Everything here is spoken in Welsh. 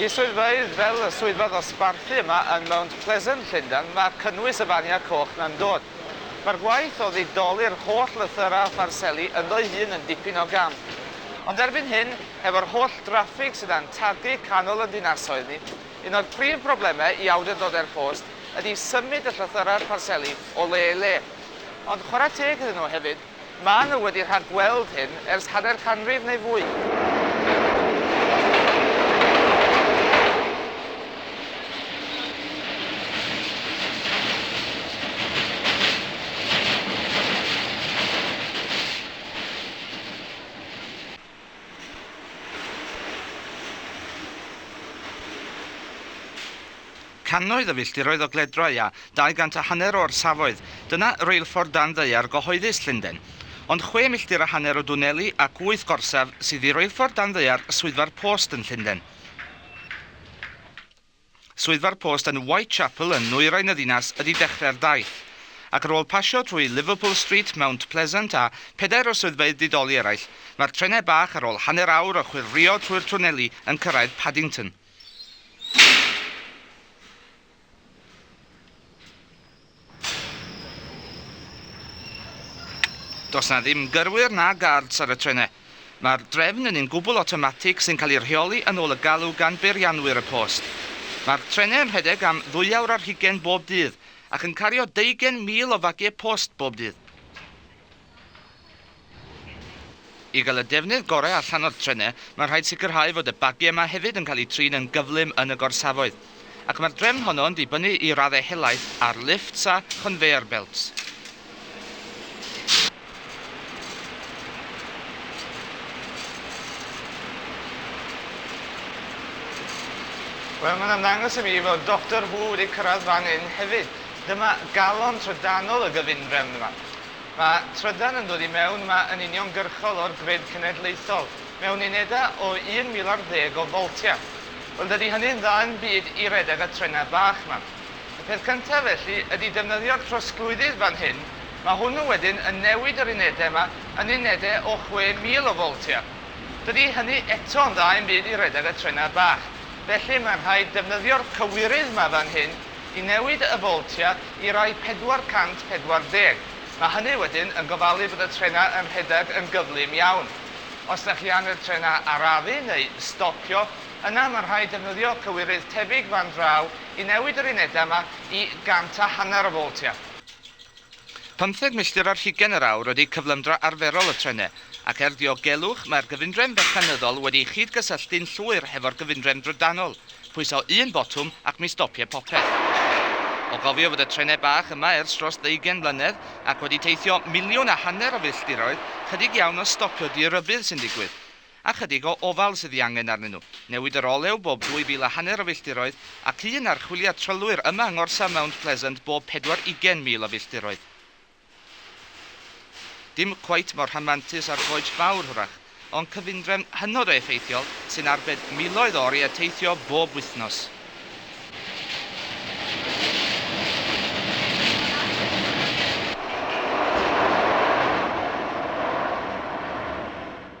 I swyddfeydd fel y swyddfa ddosbarthu yma yn Mount Pleasant, Llundain, mae cynnwys y faniau coch 'na'n dod. Mae'r gwaith o ddidoli'r holl lythyrau a pharseli ynddo'i hun yn dipyn o gam. Ond erbyn hyn, hefo'r holl draffig sydd a'n targu canol yn dinasoedd ni, un o'r prif broblemau i awdurdodau'r cost ydi symud y llythyrau'r pharseli o le i le. Ond chwarae teg iddyn nhw hefyd, Maen nhw wedi rhag-gweld hyn ers hanner canrif neu fwy. Cannoedd o filltiroedd o gledrau a dau gant a hanner o orsafoedd, dyna reilffordd dan ddaear gyhoeddus Llundain. Ond chwe milltir a hanner o dwneli ac wyth gorsaf sydd i reilffordd dan ddaear Swyddfa'r Post yn Llundain. Swyddfa'r post yn Whitechapel yn nwyrain y ddinas ydi dechrau'r daith, ac ar ôl pasio trwy Liverpool Street, Mount Pleasant a phedair o swyddfeydd didoli eraill, mae'r trenau bach ar ôl hanner awr o chwyrlïo trwy'r twneli yn cyrraedd Paddington. Does 'na ddim gyrwyr na gards ar y trenau. Mae'r drefn yn un gwbl awtomatig sy'n cael ei rheoli yn ôl y galw gan beirianwyr y post. Mae'r trenau yn rhedeg am ddwyawr ar hugain bob dydd ac yn cario deugain mil o fagiau post bob dydd. I gael y defnydd gorau allan o'r trenau, mae'n rhaid sicrhau fod y bagiau yma hefyd yn cael eu trin yn gyflym yn y gorsafoedd. Ac mae'r drefn honno yn dibynnu i raddau helaeth ar lifts a chonveyor belts. Wel, mae'n ymddangos i mi fod Doctor Who wedi cyrraedd fan hyn hefyd. Dyma galon trydanol y gyfundrefn yma. Mae trydan yn dod i mewn yma yn uniongyrchol o'r grid cenedlaethol, mewn unedau o 1,000 ar ddeg o foltiau. Wel, dydy hynny'n dda yn byd i redeg y trenau bach 'ma. Y peth cyntaf, felly, ydy defnyddio'r trosglwyddydd fan hyn, mae hwnnw wedyn yn newid yr unedau yma yn unedau o 6,000 o foltiau. Dydy hynny eto'n dda i'm byd i redeg y trenau bach. Felly, mae'n rhaid defnyddio'r cywirydd 'ma fan hyn, i newid y voltia i rai 440. Mae hynny wedyn yn gofalu bod y trenau yn rhedeg yn gyflym iawn. Os da chi ann i'r trenau arafu neu stopio, yna mae'n rhaid defnyddio cywirydd tebyg fan draw i newid yr unedau yma i gant a hanner y voltia. Pymtheg milltir ar hugain yr awr ydy cyflymdra arferol y trenau, ac er diogelwch, mae'r gyfundrefn fecanyddol wedi'i chyd-gysylltu'n llwyr hefo'r gyfundrefn drydanol, pwyso un botwm ac mi stopie popeth. O gofio fod y trenau bach yma ers dros ddeugain mlynedd ac wedi teithio miliwn a hanner o filltiroedd, chydig iawn o stopio di-rybudd sy'n digwydd. a chydig o ofal sydd ei angen arnyn nhw. Newid yr olew bob dwy fil a hanner o filltiroedd, ac un archwiliad trylwyr yma yng ngorsaf Mount Pleasant bob pedwar ugain mil o filltiroedd. Dim cweit mor rhamantus â'r Goets Fawr, hwrach, ond cyfundrefn hynod o effeithiol sy'n arbed miloedd o oriau teithio bob wythnos.